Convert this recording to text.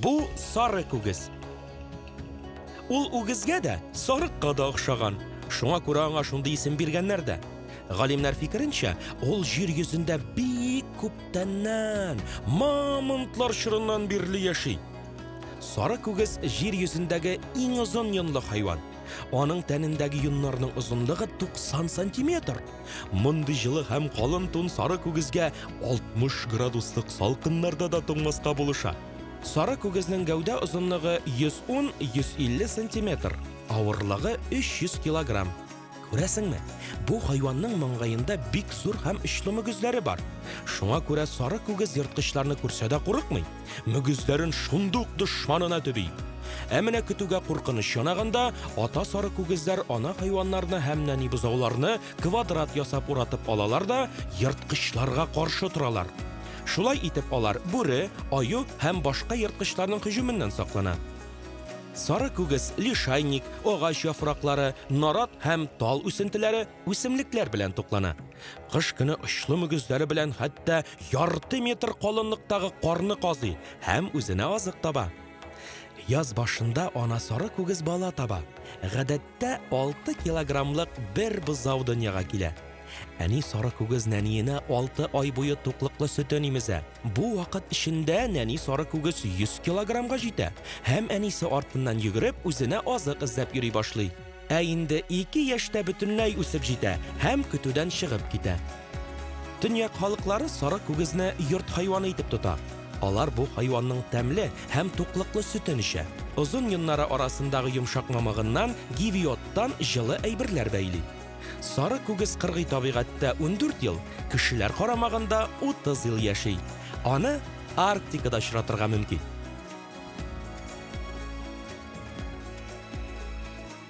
Бу сары күгез. Ул үгезгә дә, сарыкка да охшаган. Шуңа күрә аңа шундый исем биргәннәр дә. Галимнәр фикеренчә, ул җир йөзендә бик күптәннән, мамонтлар чорыннан бирле яши. Сары күгез җир йөзендәге иң озын йонлы хайван. Аның тәнендәге йоннарның озынлыгы 90 сантиметр. Мондый җылы һәм калын тун сары күгезгә 60 градуслык салкыннарда да туңмаска булыша. Сары күгезнең гәүдә озынлыгы 110-150 сантиметр, авырлыгы 300 килограмм. Күрәсеңме, бу хайванның маңгаенда бик зур һәм очлы мөгезләре бар. Шуңа күрә сары күгез ерткычларны күрсә дә курыкмый. Мөгезләрен шундук дошманына төби. Ә менә көтүгә куркыныч янаганда, ата сары күгезләр ана хайваннарны һәм нәни бозауларны квадрат ясап уратып алалар да, ерткычларга каршы торалар. Шулай итеп алар бүре, аю һәм башка ерткычларның һөҗүменнән саклана. Сары күгес, лишайник, агач яфраклары, нарат һәм тал үсентеләре үсемлекләр белән туклана. Кыш көне очлы мөгезләре белән хәтта ярты метр калынлыктагы карны казый һәм үзенә азык таба. Яз башында ана сары күгез бала таба. Гадәттә 6 килограммлык бер бозау дөньяга килә. Әни сары күгез нәниенә 6 ай буе туклыклы сөтен имезә. Бу вакыт эчендә нәни сары күгес 100 килограммга җитә һәм әнисе артыннан йөгереп үзенә азык эзләп йөри башлый. Ә инде 2 яшьтә бөтенләй үсеп җитә һәм көтүдән чыгып китә. Төньяк халыклары сары күгезне йорт хайваны итеп тота. Алар бу хайванның тәмле һәм туклыклы сөтен эчә. Озын йоннары арасындагы йомшак мамыгыннан, гивиоттан җылы әйберләр бәйли. Сары күгез кыргый табигатьтә ундүрт ел, кешеләр карамагында утыз ел яши. Аны Арктикада очратырга мөмкин.